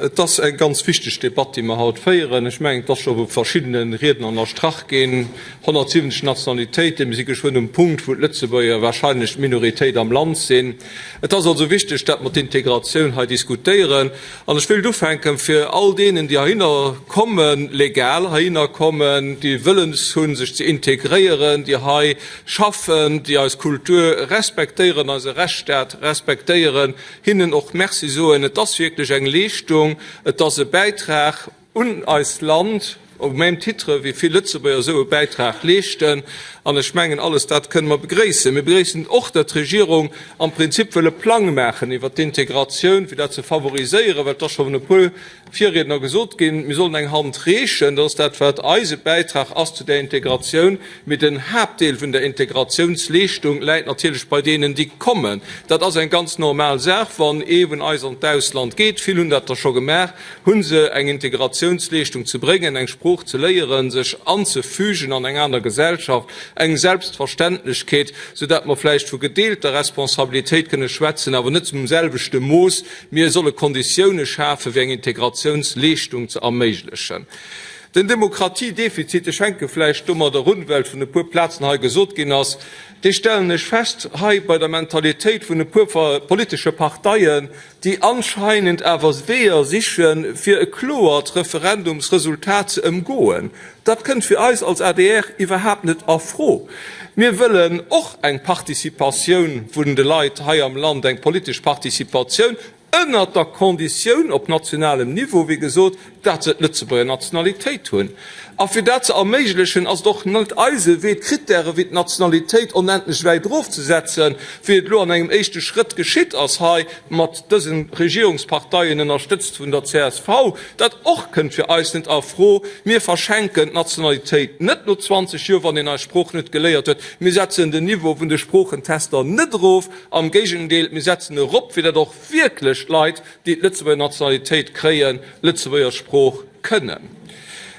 Et ass eng ganz wichteg Debatt, déi mer haut féieren. Ech mengen, et ass scho vu verschiddene Riedner ënnerstrach ginn, 170 Nationalitéiten, mir si geschwënn um Punkt, wou d'Lëtzebuerger warscheinlech d'Minoritéit am Land sinn. Et ass also wichteg, datt mer d'Integratioun hei diskutéieren. An ech wéilt ufänken, fir all deenen, déi heihinner kommen, legal heihinner kommen, déi Wëllens hunn, sech ze integréieren, déi hei schaffen, déi eis Kultur respektéieren, eise Rechtsstaat respektéieren, hinnen och Merci soen. Et ass wierklech eng Leeschtung, et ass e Bäitrag un eist Land, au même titre wéi vill Lëtzebuerger esou e Bäitrag leeschten. An ech mengen, alles dat kënne mer begréissen. Mir begréissen och, datt d'Regierung am Prinzip wëll e Plang maachen iwwert d'Integratioun, fir dat ze favoriséieren, well et ass schonn e puer Virriedner gesot ginn, mir sollen eng Hand reechen, dat ass dat wat eise Bäitrag ass zu där Integratioun, mee den Haaptdeel vun der Integratiounsleeschtung läit natierlech bei deenen déi kommen. Dat ass eng ganz normal Saach, wann ee vun eis an d'Ausland geet, vill hunn dat der scho gemaach, hu se eng Integratiounsleeschtung ze bréngen, eng Sprooch ze léieren, sech anzefügen an eng aner Gesellschaft, eng Selbstverständlechkeet, soudatt mer vläicht vu gedeelter Responsabilitéit kënne schwätzen, awer net zum selwechte Mooss. Mir solle Konditioune schafe fir eng Integratiounsleeschtung ze erméiglechen. Den Demokratiedefizit, ech fänke vläicht domadder un, well et vun e puer Plazen hei gesot ginn ass, dee stellen ech fest hei bei der Mentalitéit vun e puer politesche Parteien, déi anscheinend awer Weeër siche fir e kloert Referendumsresultat ze ëmgoen. Dat kënnt fir eis als adr iwwerhaapt net a Fro. Mir wëllen och eng Participatioun vun de Leit hei am Land, eng politesch Participatioun, ënnert der Konditioun, op nationalem Niveau, wéi gesot, dat se d'Lëtzebuerger Nationalitéit hunn. A fir dat ze erméiglechen, ass et och net eise Wee, d'Krittäre wéi d'Nationalitéit onendlech wäit erofzesetzen, wéi et elo an engem éischte Schrëtt geschitt ass hei mat dëse Regierungsparteien, ënnerstëtzt vun der csv. Dat och kënnt fir eis net a Fro. Mir verschenken d'Nationalitéit net no 20 Joer, wann een eis Sprooch net geléiert huet. Mir setzen den Niveau vun de Sproochentester net erof, am Géigendeel, mir setzen e erop, fir datt och wierklech Leit, déi d'Lëtzebuerger Nationalitéit kréien, d'Lëtzebuerger Sprooch kënnen.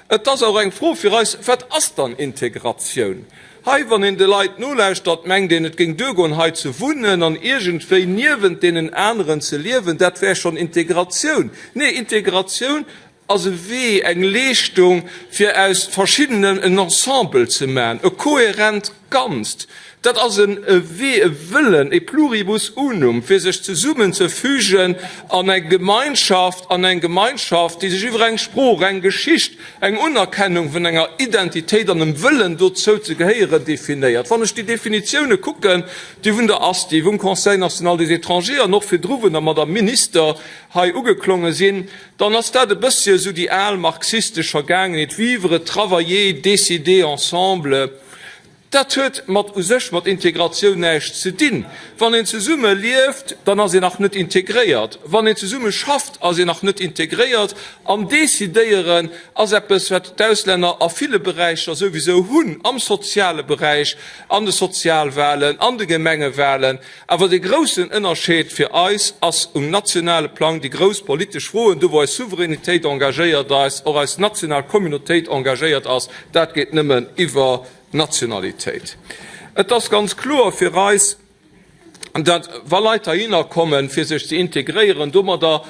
Et ass och eng Fro fir eis, Wat ass dann Integratioun? Hei, wann een de Leit nolauschtert, mengt een, et géing duergoen, hei ze wunnen an iergendwéi niewent deenen aneren ze liewen, dat wär schonn Integratioun. Nee, Integratioun ass e Wee, eng Leeschtung, fir aus Verschiddenen en Ensemble ze maachen, e kohärent Ganzt. Dat ass e Wee, e Wëllen, e pluribus unum, fir sech zesummen ze fügen an eng Gemeinschaft, an eng Gemeinschaft, déi sech iwwer eng Sprooch, eng Geschicht, Eng Unerkennung vun enger Identitéit an dem Wëllen dozou ze gehéieren definéiert. Wann ech déi Definitioune kucken, déi vun der ASTI, vum Conseil national des étrangers an och virdru vun der Madame Minister hei ugeklonge sinn, dann ass dat e bëssche esou déi al marxistesch Vergaangenheet, vivre, travailler, décider ensemble. Dat huet mat u sech mat Integratioun näischt ze dinn. Wann een zesumme lieft, dann ass een nach net integréiert. Wann een zesumme schafft, ass een nach net integréiert. An decidéieren ass eppes, wat d'Auslänner a ville Beräicher souwisou hunn, am soziale Beräich, an de Sozialwalen, an de Gemengewalen. Awer de groussen Ënnerscheed fir eis ass um nationale Plang, déi grouss politesch Froen, do wou eis Souveränitéit engagéiert ass, och eis national Communautéit engagéiert ass, dat geet nëmmen iwwer. Nationalitéit. Et ass ganz kloer fir eis, datt wa Leit heihinner kommen, fir sech ze integréieren, domadder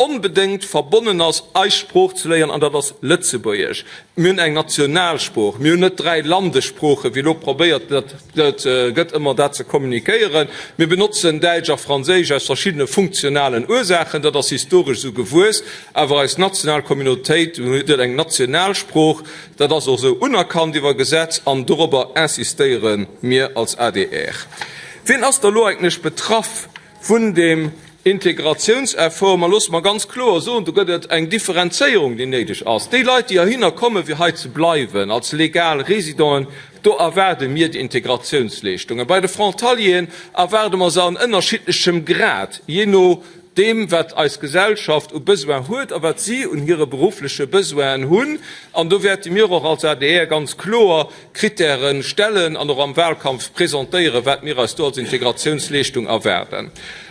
onbedéngt verbonnen ass, eis Sprooch ze léieren, an dat ass Lëtzebuergesch. Mir hunn eng Nationalsprooch, mir hunn net dräi Landessproochen, wéi elo probéiert gëtt ëmmer dat ze kommunikéieren. Mir benotzen Däitsch a Franséisch aus verschiddene funktionalen Ursaachen, dat ass historesch esou gewuess, awer eis national Communautéit huet eng Nationalsprooch, Dat ass och esou unerkannt iwwer Gesetz an dorobber insistéiere mir als adr. Wien ass da elo eigentlech betraff vun deem Integratiounseffort? Mä loosse mer ganz kloer soen, do gëtt et eng Differenzéierung, déi néideg ass. Déi Leit, déi heihinner kommen, fir hei ze bleiwen als legal Résidenten, do erwaarde mir déi Integratiounsleeschtungen. Bei de Frontalieren erwaarde mer se an ënnerschiddlechem Grad, jee no deem wat eis Gesellschaft u Besoin huet a wat si un hire beruffleche Besoinen hunn. An do wäerte mir och als adr ganz kloer Krittäre stellen an och am Wahlkampf presentéieren, wat mir eis do als Integratiounsleeschtung erwaarden.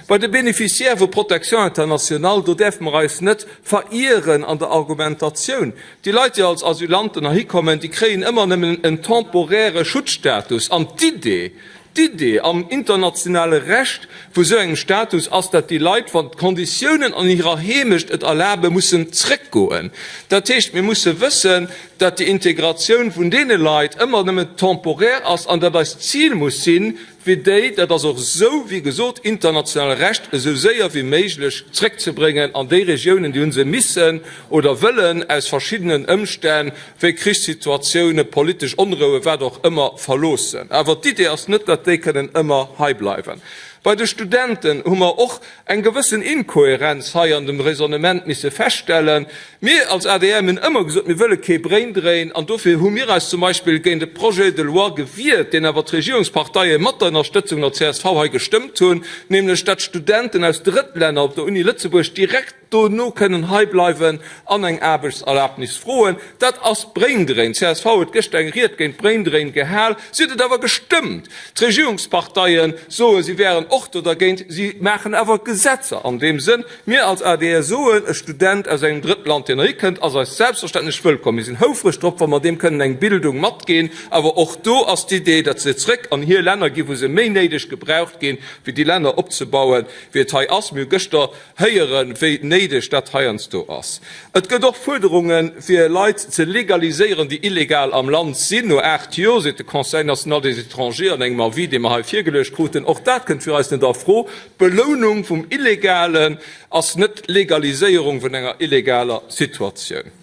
Bei de Bénéficiaires vu Protection internationale, do däerfe mer eis net verieren an der Argumentatioun. Déi Leit, déi als Asylanten heikommen, déi kréien ëmmer nëmmen en temporäre Schutzstatus. An d'Idee, D'Idee am internationale Recht vu esou engem Status ass, datt déi Leit, wann d'Konditiounen an hirer Heemecht et erlaben, mussen zréckgoen. Dat heescht, mir musse wëssen, datt déi Integratioun vun deene Leit ëmmer nëmmen temporär ass an datt eist Zil muss sinn, fir déi, dat ass och esou, wéi gesot, internationale Recht, esou séier wéi méiglech zréckzebréngen an déi Regiounen, déi hu se missen oder wëllen aus verschiddenen Ëmstänn wéi Krichssituatioune, politesch Onroue, wat och ëmmer, verloossen. Awer d'Idee ass net, datt déi kënnen ëmmer hei bleiwen. Bei de Studenten hu mer och eng gewëssen Inkohärenz hei an dem Raisonnement misse feststellen. Mir als adr hunn ëmmer gesot, mir wëlle kee Braindrein an dofir hu mir eis zum Beispill géint e Projet de loi gewiert, deen awer d'Regierungsparteie mat der Ënnerstëtzung der csv hei gestëmmt hunn, nämlech datt Studenten aus Drëttlänner op der Uni Lëtzebuerg direkt, dono kënnen hei bleiwen an eng Aarbechtserlaabnis froen, dat ass Braindrain. Csv huet gëschter eng Ried géint Braindrain gehal, si huet et awer gestëmmt. D'Regierungsparteie soen, si wären och do dergéint, si maachen awer Gesetzer an deem Sënn. Mir als adr soen, e Student aus engem Drëttland, deen erikënnt, ass eis selbstverständlech wëllkomm. Mir sinn houfreg drop, wa mer deem kënnen eng Bildung matginn, awer och do ass d'Idee, datt se zréck an hir Länner ginn, wou se méi néideg gebraucht ginn, fir déi Länner opzebauen, wéi et hei ass. Mir hu gëschter Héieren, wéi néideg dat heiansdo ass. Et gëtt och Fuerderunge fir Leit ze legaliséieren, déi illegal am Land sinn. No aacht Joer, seet de Conseil national des étrangers an engem Avis, dee mer hei virgeluecht kruten, och dat kënnt fir eis net a Fro. D'Belounung vum Illegalen ass net d'Legaliséierung vun enger illegaler Situatioun.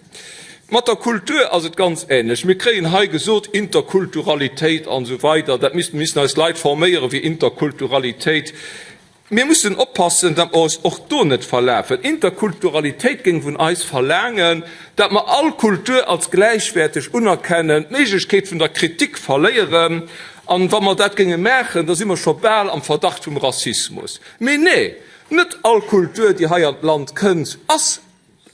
Mat der Kultur ass et ganz änlech. Mir kréien hei gesot, Interkulturalitéit an esou weider, dat misst, mir missten eis Leit forméieren, fir Interkulturalitéit Mir mussen oppassen, datt mer eis och do net verlafen. Interkulturalitéit géing vun eis verlaangen, datt mer all Kultur als gläichwäerteg unerkennen, d'Méiglechkeet vun der Kritik verléieren. An wa mer dat géinge maachen, da si mer scho bal am Verdacht vum Rassismus. Mee nee, net all Kultur, déi hei an d'Land kënnt, ass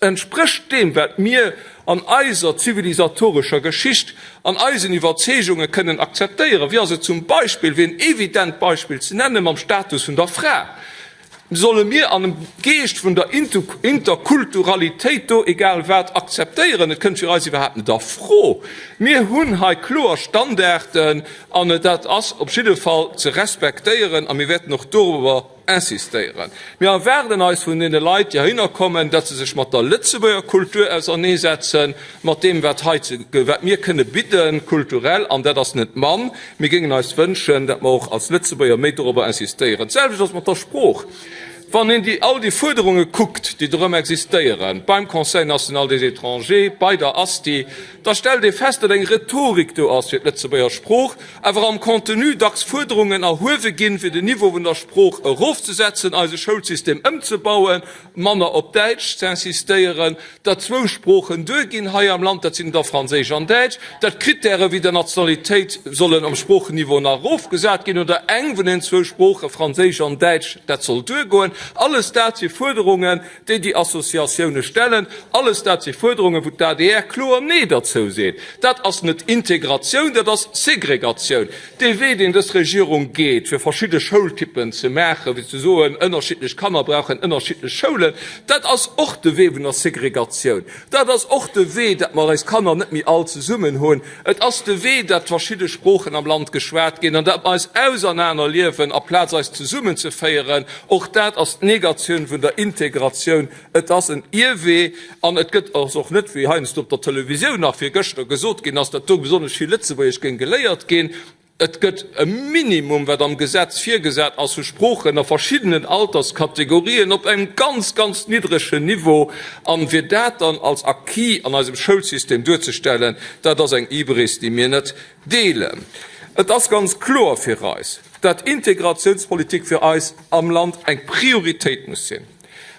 Entsprécht deem, wat mir an eiser zivilisatorescher Geschicht an eisen Iwwerzeegunge kënnen akzeptéieren? Wéi ass et zum Beispill, fir en evident Beispill ze nennen, mam Status vun der Fra? Solle mir am Geescht vun der Interkulturalitéit do egal wat akzeptéieren? Et kënnt fir eis iwwerhaapt net a Fro. Mir hunn hei kloer Standarden an dat ass op jidde Fall ze respektéieren a mir wäerten och dorobber insistéieren. Mir erwaarden eis vun deene Leit, déi heihinner kommen, datt se sech mat der Lëtzebuerger Kultur auserneesetzen, mat deem, wat hei, wat mir kënne bidden, kulturell, an dat ass net mann. Mir géingen eis wënschen, datt mer och als Lëtzebuerger méi dorobber insistéieren. D'selwecht ass mat der Sprooch. Wann een déi, all déi Fuerderunge kuckt, déi dorëm existéieren, beim Conseil national des étrangers, bei der ASTI, da stellt ee fest, datt eng Rhetorik do ass fir d'Lëtzebuerger Sprooch, awer am Contenu dacks Fuerderungen erhuewe ginn, fir den Niveau vun der Sprooch erofzesetzen, eise Schoulsystem ëmzebauen, manner op Däitsch z'insistéieren, datt zwou Sproochen duerginn hei am Land, dat sinn der Franséisch an Däitsch, datt Krittäre wéi der Nationalitéit sollen um Sproochenniveau nach erofgesat ginn oder eng vun den zwou Sproochen, Franséisch an Däitsch, dat soll duergoen. Alles dat si Fuerderungen, déi déi Associatioune stellen, alles dat si Fuerderungen, wou d'ADR kloer Nee derzou seet. Dat ass net Integratioun, dat ass Segregatioun. Dee Wee, deen dës Regierung geet, fir verschidde Schoultypen ze maachen, fir ze soen, ënnerschiddlech Kanner brauchen ënnerschiddlech Schoulen, dat ass och de Wee vun der Segregatioun. Dat ass och de Wee, datt mer eis Kanner net méi all zesummen hunn. Et ass de Wee, datt verschidde Sproochen am Land geschwat ginn an datt mer eis ausernaner liewen aplaz eis zesummen ze féieren. Och dat ass d'Negatioun vun der Integratioun. Et ass en Ierwee an et gëtt ass och net, wéi heiansdo op der Televisioun nach virgëschter gesot ginn ass, datt do besonnesch vill Lëtzebuergesch géing geléiert ginn. Et gëtt e Minimum, wat am Gesetz virgesat ass, u Sproochen a verschiddenen Alterskategorien op engem ganz, ganz niddregen Niveau. A fir dat dann als Acquis an eisem Schoulsystem duerzestellen, dat ass eng Hybris, déi mir net deelen. Et ass ganz kloer fir eis, dat Integratiounspolitik fir eis am Land eng Prioritéit muss sinn.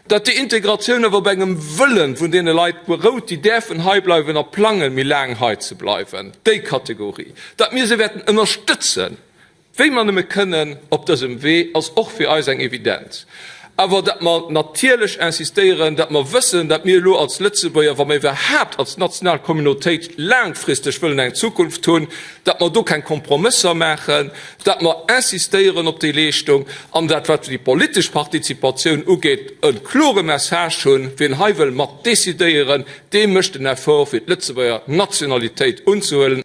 Datt déi Integratioun awer op engem Wëllen vun deene Leit berout, déi däerfen hei bleiwen a plangen, méi laang hei ze bleiwen, déi Kategorie, datt mir se wäerten ënnerstëtzen, wéi mer nëmme kënnen op dësem Wee, ass och fir eis eng Evidenz. Awer datt mer natierlech insistéieren, datt mer wëssen, datt mir elo als Lëtzebuerger, wa mer iwwerhaapt als national Communautéit laangfristeg wëllen eng Zukunft hunn, datt mer do keng Kompromësser maachen, dat mer insistéieren op déi Leeschtung an dat, wat déi politesch Partizipatioun ugeet, e klore Message hunn, Wien hei wëll mat decidéieren, dee mécht en Effort fir d'Lëtzebuerger Nationalitéit unzehuelen.